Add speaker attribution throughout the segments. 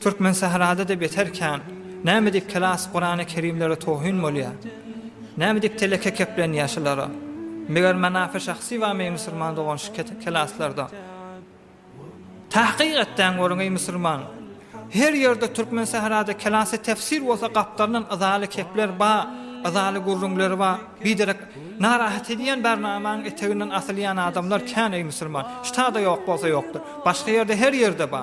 Speaker 1: Türkmen sährada-da beter kän. Näme diýip kelas Kurany Kerimlere towhyn bolýa? Näme diýip teleke keplenýä şulara? Meger Manafy şahsy bamy musurman dogan şu kelaslarda? Tahkyk etdäň görüň eý musurman. Her ýerde Türkmen sährada kelasy tefsir bolsa gapdalyndan yzaly kepler ba, yzaly gürrüňleri ba, biderek narahat edýän barnamaň eteginden asylýan adamlar kän eý musurman. Ştada ýok bolsa ýokdur. Başga ýerde her ýerde ba.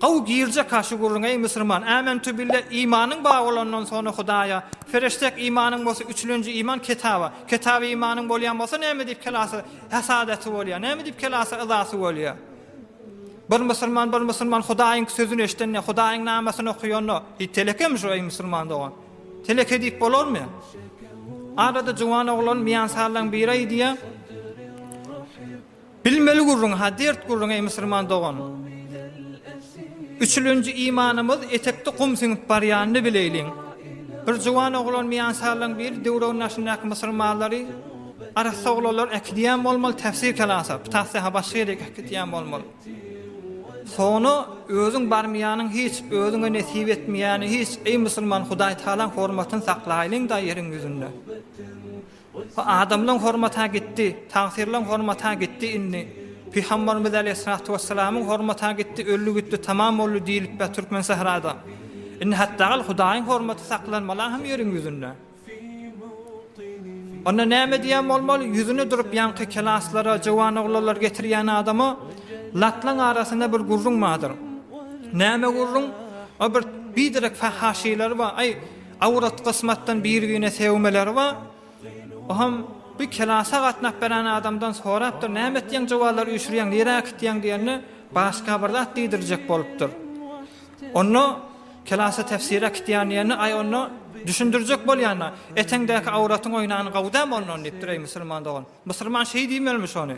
Speaker 1: Gowy girjeka şu gürrüň eý musurman Ämentübille imanyň bar bolandan sona Hudaýa Fereştek imanyň bolsa üçülenji iman Ketaba Ketaby imanyň bolýan bolsa näme diýip kelasy Häsadasy bolýa näme diýip kelasy yzasy bolýa Bir musurman bir musurman Hudaýyň sözüni eşdende Hudaýyň namasyny okuyanda Hi telekemi şu eý musurman dogan Teleke diýip bolarmy Arada juwan oglan miýansallan biri aýdýa. Bilmeli gürrüň-ha, dert gürrüň, eý musulman dogan! Üçülenji imanymyz etekde gum siňip barýanyny bileýliň. Bir juwan oglan miýansarylaryň biri Döwrüň daşyndaky musulmanlary arassa oglanlar äkidýän bolmaly, täfsir kelasa, pytahsy-ha başga ýere äkidýän bolmaly. Soňra özüň barmaýanyň hiç, özüňe nesip etmeýäni hiç, eý musulman Hudaýtagalaň hormatyny saklaýlyň-da ýeriň ýüzünde. Bu adamlaň hormata gitdi, tagsyrlaň hormata gitdi indi. Pygambarymyz aleýhissalatu wessalamyň hormata gitdi, öldi gitdi, tamam boldy diýilipä türkmen sährada. Indi hatda gal Hudaýyň hormaty saklanmala hem ýeriň ýüzünde. Onda näme diýen bolmaly, ýüzüne durup ýaňky kelaslara, jowan oglanlar getirýän adama latlaň arasynda bir gürrüň bardyr. Näme gürrüň? O bir biderek fahaşylar bar. Aý, Awrat gysmatdan birigine segmeleri bar. Oham bir kelasa gatnap beren adamdan sorapdyr, näme etýäň jowallar üýşürýäň, nirä kitýäň diýende, başga bir zat diýdirjek bolupdyr. Onda kelasa tefsire kitýän diýende, aý onda düşündirjek bolýanda, eteňdäki awratyň oýnany gowudam ondan diýipdir, eý musulman dogan. Musulman şeý diýmelmiş ony.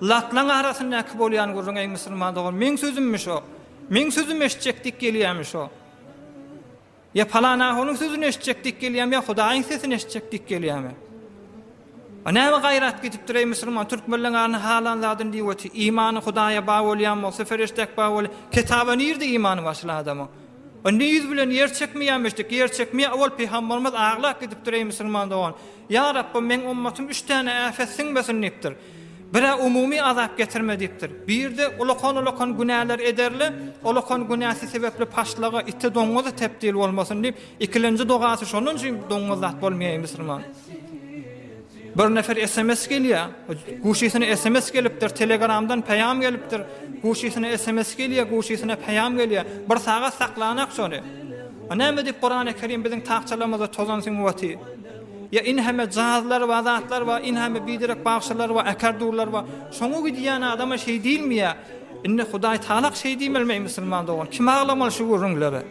Speaker 1: Latlaň arasyndaky bolýan gürrüň eý musulman dogan, meň sözümmiş o. Meň sözüm eşitjek diýip gelýämiş o. Ýa palan ahunyň sözüni eşitjek dik gelýämi, ýa Hudaýyň sesini eşitjek dik gelýämi? A näme gaýrat gidipdir, eý, musulman, türkmenleň aryny halan zadyny diýip oty, imany Hudaýa baý bolýan bolsa, ferişdäk baý bol, ketaba nirde imany bar şul adamyň? A indi ýüz bilen ýer çekmeýämi eşitjek, ýer çekmeýä, owal pygambarymyz aglap gidipdir, eý, musulman dogan, ýa Rabbym, meň ummatym üç täne äfet siňmesin diýipdir. Bir-ä umumy azap getirme diýipdir. Bir-de ulakan-ulakan günäler ederle, ulakan günäsi sebäpli paşlaga, ite, doňňuza tebdil bolmasyn diýip, ikilenji dogasy şondan üçin doňňuz zat bolmaýaýy musulman. Bir nefer sms gelýär, guşysyna sms gelipdir, telegramdan peýam gelipdir, guşysyna sms gelýär, guşysyna peýam gelýär, bir sagat saklanak şony. Näme diýip Kurany Kerim biziň takçalarymyzda tozan süňňüwati. Ýa in heme jazlar bar zatlar bar in heme biderek bagşylar bar äkar durlar bar şoňa gidýän adama şeý diýilmeýä indi hudaý tagalak şeý diýmeli meý musulman dogan kim aglamaly şu gürrüňlere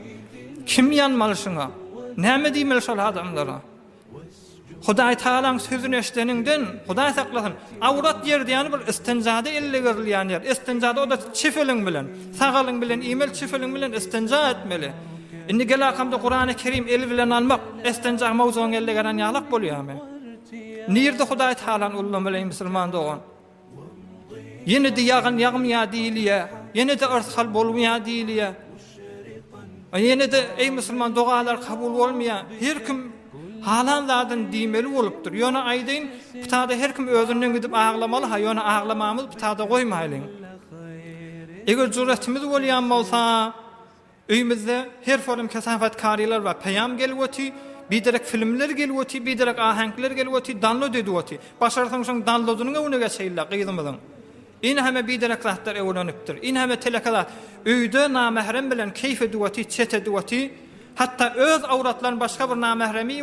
Speaker 1: kim ýanmaly şuňa näme diýmeli şol adamlara hudaý tagalaň sözüni eşdeniňden hudaý saklasyn Awrat ýeri diýýäni bir istinjada elle berilýän ýer. Istinjada o-da çep eliň bilen. Sag eliň bilen iýmeli, çep eliň bilen istinja etmeli. Indi gelakamda Kurany Kerim el bilen almak, istinja mowzugyny elle geren ýalak bolýamy? Nirde Hudaý Talan ullamaly eý musulman dogan? Ýene-de ýagyn ýagmýa diýilýä, ýene-de yrsgal bolmýa diýilýä. A ýene-de eý musulman dogalar kabul bolmaýa her kim halan zadyny diýmeli bolupdyr ýöne aýdaýyn ptada her kim özünden gidip aglamalyha ýöne aglamamyzy ptada goýmaýlyň eger jüretimiz bolýan bolsa öýmizde her forum kesafat karylar bar peýam gelip oty biderek filmler gelip oty biderek aheňkler gelip oty danlod edip oty başarsaň şoň danlodynyň öňüne geçeýinle gyzymyzyň Inhame biderek zatlar öwrenipdir. Inhame teleke zat. Öýde namährem bilen keýf ediwoti, çet ediwoti. Hatda öz awratlaryny başga bir namähreme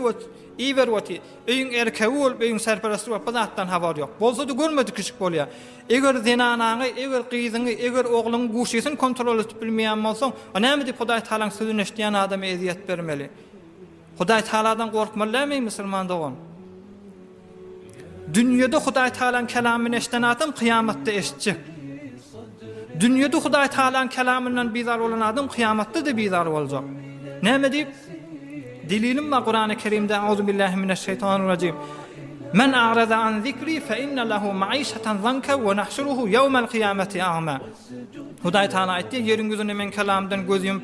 Speaker 1: iberwoti. Öýüň erkegi bolup, öýüň serperesti bolup bu zatdan habary ýok. Bolsady görmedik işik bolýar. Eger zenanaňy, eger gyzyňy, eger ogluňy guşysyny kontrol edip bilmeýän bolsaň, o näme diýip Hudaýtagalaň sözüni eşidýän adama ezýet bermeli? Hudaýtagaladan gorkmaly dälmi eý musulman dogan? Dünýede Hudaýtagalaň kelamyny eşden adam kyýamatda eşitjek. Dünýede Hudaýtagalaň kelamyndan bizar bolan adam kyýamatda-da bizar boljak. Näme diýip? Delilim bar Kurany Kerimde Auzubillahi mineşşeýtanirrajim. Men a'raza an zikri fe inne lehu maişatan zanka ve nahşuruhu yevmel kıyameti a'ma. Hudaý Taala aýtdy, ýeriň ýüzüne men kelamdan göz ýumup,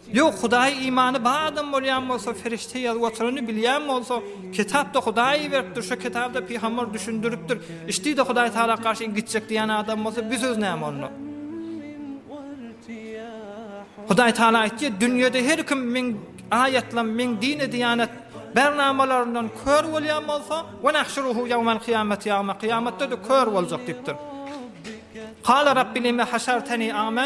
Speaker 1: Ýok, Hudaýa imany bar adam bolýan bolsa, perişde ýazyp oturany bilýän bolsa, kitapda Hudaý iberipdir, şu kitabda pygamber düşündiripdir, içdide Hudaý tagala garşy gitjek diýen adam bolsa, bu söz näme onda? Hudaý tagala aýtýar, dünýede her kim meň aýatlam, meň dini diýanet bernamalaryndan kör bolýan bolsa, we nahşuruhu ýawmal kyýamati a'ma, kyýamatda-da kör boljak diýipdir. Kala Rabbi lime haşarteni a'ma?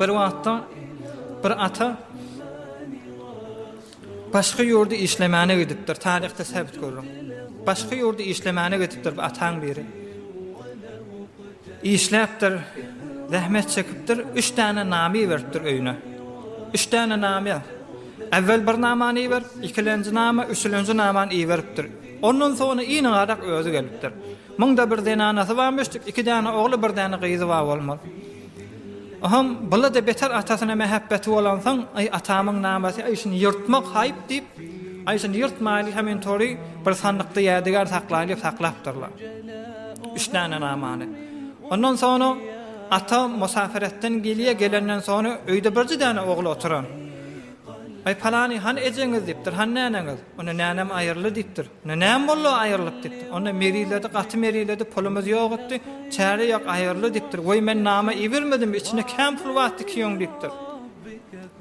Speaker 1: Bir wagtda bir ata başga ýurda işlemäne gidipdir. Taryhda säbit görüň. Başga ýurda işlemäne gidipdir bu ataň biri. Işläpdir, zähmet çekipdir, 3 täne nami beripdir öýüne. 3 täne nami. Äwwel bir namany iber, ikilenji nama, üçülenji namany iberipdir. Ondan soňra iň garak özi gelipdir. Munda bir zenanasy barmyş, iki däne ogly, bir däne gyzy bar bolmaly. Oňam bula-da beter atasyna mähebbeti bolansoň, Aý, atamyň namasy, aý, şuny ýyrtmak haýp diýip, Aý, şuny ýyrtmaýly, hemen tory bir sandykda ýädiger saklaýly diýip saklapdyrlar. Üç däne namany. Ondan soňra ata musaperetden gelýär, gelenden soňra öýde birji däne ogly oturan. Aý, palany, hany ejeňiz diýipdir, hany näneňiz? Onda nänem aýyrly diýipdir. Onda näme boldy, aýyrlyk dikdi. Onda meriledi, gaty meriledi, pulumyz ýok etdi. Çäre ýok, aýyrly dikdir. Woý, men nama ibermedimmi, içinde kän pul bar tikiýeň diýipdir.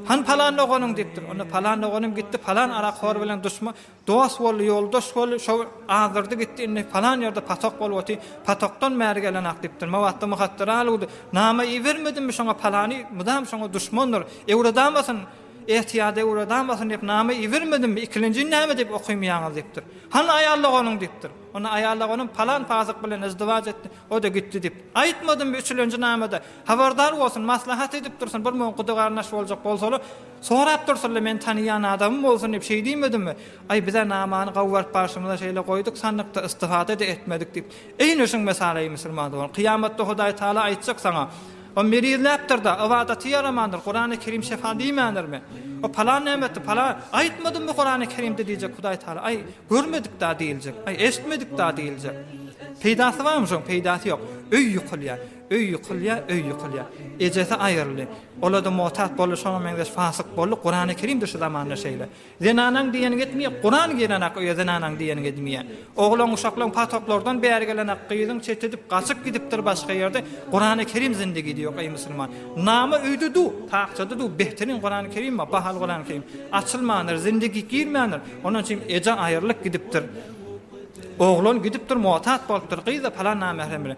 Speaker 1: Hany palan doganyň diýipdir. Onda palan doganym gitdi, palan arakhor bilen duşman, dost boldy, ýoldaş boldy, şol azdyrdy gitdi, indi palan ýerde patok bolup otyr, patokdan bäri gelenok diýipdir. Mabatda Muhattar Aluda, Nama ibermedimmi şoňa palany, mydam şoňa duşmandyr. Öwredamasyn? Ähtiýada ugradarmasyn diýip name ibermedimmi, ikilenjini näme diýip okaýmaýaňyz diýipdir. Hany aýal doganyň diýipdir. Onda aýal doganym palan pasyk bilen yzdywaç etdi, o-da gitdi diýip. Aýtmadymmy üçülenji namede? Habardar bolsun, maslahat edip dursun, bir muňa gudy-garyndaş boljak bolsalar, sorap dursunlar, meni tanaýan adamym bolsun diýip şeý diýmedimmi? Aý, biz-ä namany gawy görüp barşymyza şeýle goýduk sandykda, istifada-da etmedik diýip. Eýne şuň mesaly, eý, musulman dogan, kyýamatda Hudaý Tagala aýtjak saňa, O merizläpdir-de, ybadaty ýaramandyr, Kurany Kerim şefa diýmändirmi? O palan nämetdi, palan, aýtmadymmy Kurany Kerimde diýjek Hudaý Tagala, aý, görmedik-dä diýiljek, aý, eşitmedik-dä diýiljek. Peýdasy barmy şoň, peýdasy ýok. Öý ýykylýar, öý ýykylýar, öý ýykylýar. Ejesi aýryldy. Ol-a-da motat boldy, şoňa meňzeş fasyk boldy, Kurany Kerimdir şu zamanda şeýle. Zenanaň diýeni gitmeýär, Kuran girenak öýe zenanaň diýeni gidmeýär. Oglan uşaklaň pataklardan bäri gelenak gyzyň çet edip gaçyp gidipdir başga ýerde Kurany Kerim zindigi diýok eý musulman. Name öýde du, takjada du behtirin Kurany Kerim bar, bahaly Kurany Kerim. Açylmandyr, zindigi girmändir. Ondan üçin eje aýrylyp gidipdir. Oglan gidipdir muatat bolupdyr gyz-a palan namährem bilen.